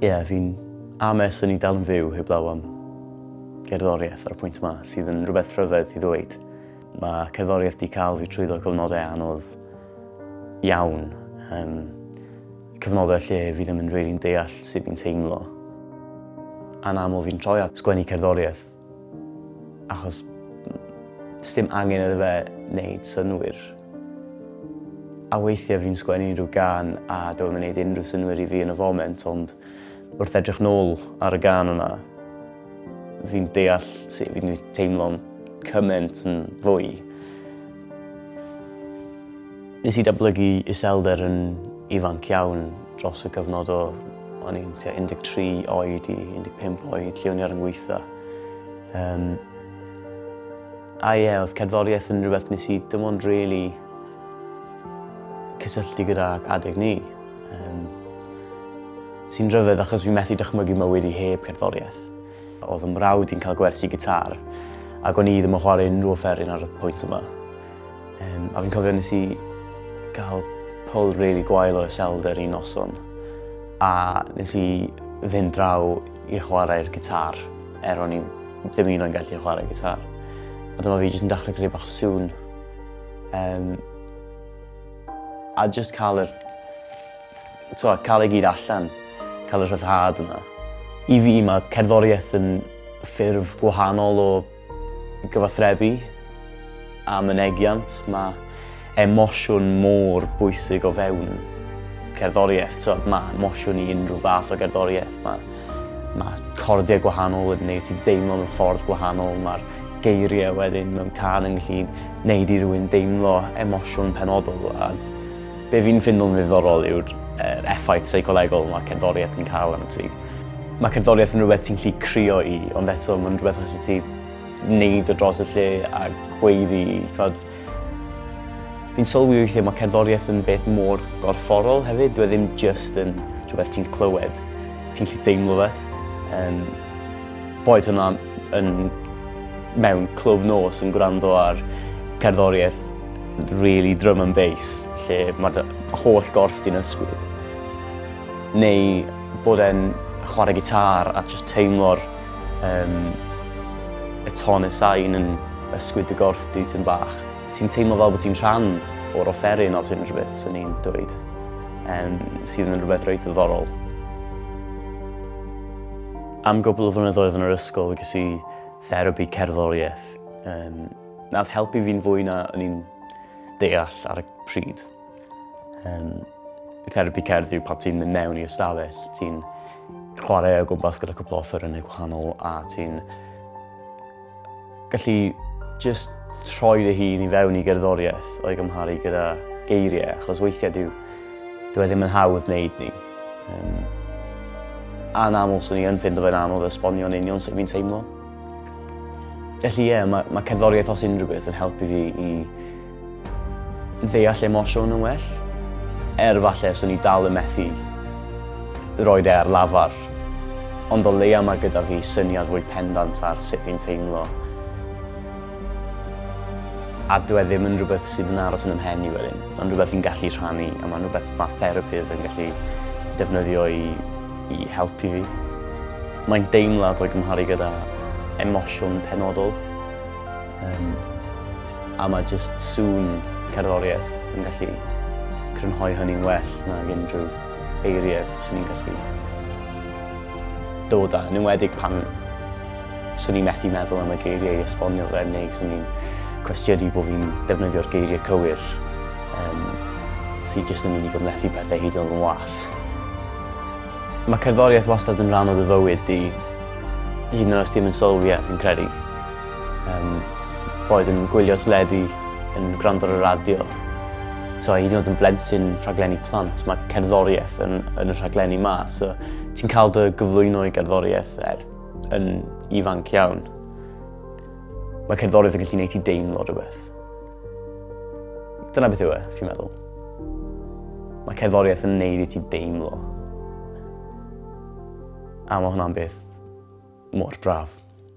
Ie, yeah, fi'n ames o'n i dal yn fyw heblaw am gerddoriaeth ar y pwynt yma, sydd yn rhywbeth rhyfedd i ddweud. Mae cerddoriaeth di cael fi trwyddo cyfnodau anodd iawn. Um, cyfnodau lle fi ddim yn rili'n deall sut fi'n teimlo. Anaml fi'n troi at sgwennu cerddoriaeth Achos sdim angen iddo fe wneud synwyr. A weithiau fi'n sgwennu unrhyw gan a dyw e'n gwneud unrhyw synwyr i fi yn y foment, ond wrth edrych nôl ar y gan yna, fi'n deall sut fi'n teimlo'n cymaint yn fwy. Nes i datblygu iselder yn ifanc iawn dros y gyfnod o o'n i'n tua 13 oed i 15 oed lle o'n i ar yn gweitha. Um, a ie, oedd cerddoriaeth yn rhywbeth nes i dim ond really cysylltu gyda adeg ni. Um, sy'n rhyfedd achos fi'n methu dychmygu mywyd i heb cerddoriaeth. Oedd yn mrawd i'n cael gwersi gitar ac o'n i ddim yn chwarae unrhyw offeryn ar y pwynt yma. Um, a fi'n cofio nes i gael pol really gwael o iselder un noson. A nes i fynd draw i chwarae'r gitar, er o'n i ddim un o'n gallu chwarae gitar. A dyma fi jyst yn dechrau creu bach o sŵn. Um, a jyst cael yr... So, cael ei gyd allan, cael y rhyddhad yna. I fi mae cerddoriaeth yn ffurf gwahanol o Gyfathrebu a mynegiant, mae emosiwn mor bwysig o fewn cerddoriaeth. So, mae emosiwn i unrhyw fath o gerddoriaeth. Mae, mae cordiau gwahanol yn gwneud ti deimlo mewn ffordd gwahanol. Mae'r geiriau wedyn mewn can yn gallu gwneud i rywun deimlo emosiwn penodol. A be fi'n ffindo'n ddiddorol yw'r er effaith seicolegol mae cerddoriaeth yn cael arno ti. Mae cerddoriaeth yn rhywbeth ti'n gallu crio i ond eto mae'n rhywbeth allet ti wneud o dros y lle a gweiddi t'od. Fi'n sylwi weithie ma' cerddoriaeth yn beth mor gorfforol hefyd dyw e ddim jyst yn rhywbeth ti'n clywed. Ti'n gallu deimlo fe. Yym. Boed hwnna yn mewn clwb nos yn gwrando ar cerddoriaeth rili drum and bass lle ma' dy holl gorff di'n ysgwyd neu Bod e'n chwarae gitar a jyst teimlo'r um, y ton y sain yn ysgwyd y gorff di tyn bach. Ti'n teimlo fel bod ti'n rhan o'r offeryn os unrhyw beth sy'n ni'n dweud, um, sydd yn rhywbeth reit ddiddorol. Am gwbl o flynyddoedd yn yr ysgol ges i therapi cerddoriaeth. Um, Nath helpu fi'n fwy na o'n i'n deall ar y pryd. Um, therapi cerdd yw pan ti'n mynd mewn i ystafell, ti'n chwarae o gwmpas gyda cwpl o ffyrnau gwahanol a ti'n gallu just troi dy hun i fewn i gerddoriaeth o'i gymharu gyda geiriau, achos weithiau dyw, dyw e ddim yn hawdd wneud ni. Um, a'n aml, swn i yn ffind o fe'n anodd esbonio'n union sut fi'n teimlo. Felly ie, yeah, mae, mae cerddoriaeth os unrhyw beth yn helpu fi i ddeall emosiwn yn well, er falle swn i dal yn methu roed e ar lafar. Ond o leia mae gyda fi syniad fwy pendant ar sut fi'n teimlo. A dwi e ddim yn rhywbeth sydd yn aros yn ymhen i wedyn. Mae'n rhywbeth fi'n gallu rhannu a mae'n rhywbeth mae therapydd yn gallu defnyddio i, i helpu fi. Mae'n deimlad o'i gymharu gyda emosiwn penodol. Um, A mae jyst sŵn cerddoriaeth yn gallu crynhoi hynny'n well nag unrhyw eiriau swn i'n gallu dod â, yn enwedig pan swn i'n methu meddwl am y geiriau i esbonio fe, neu swn i'n cwestiynu bod fi'n defnyddio'r geiriau cywir, um, sydd jyst yn mynd i gymlethu pethau hyd yn wath. Mae cerddoriaeth wastad yn rhan o dy fywyd di, hyd yn oes ti ddim yn sylwi e, fi'n credu. Um, boed yn gwylio teledu, yn gwrando ar y radio, so, hyd yn oed yn blentyn rhaglenni plant, mae cerddoriaeth yn, yn y rhaglenni ma. So, ti'n cael dy gyflwyno i gerddoriaeth er, yn ifanc iawn. Mae cerddoriaeth yn gallu gwneud ti deimlo rhywbeth. Dyna beth yw e, chi'n meddwl? Mae cerddoriaeth yn neud i ti deimlo. A mae hwnna'n beth mor braf.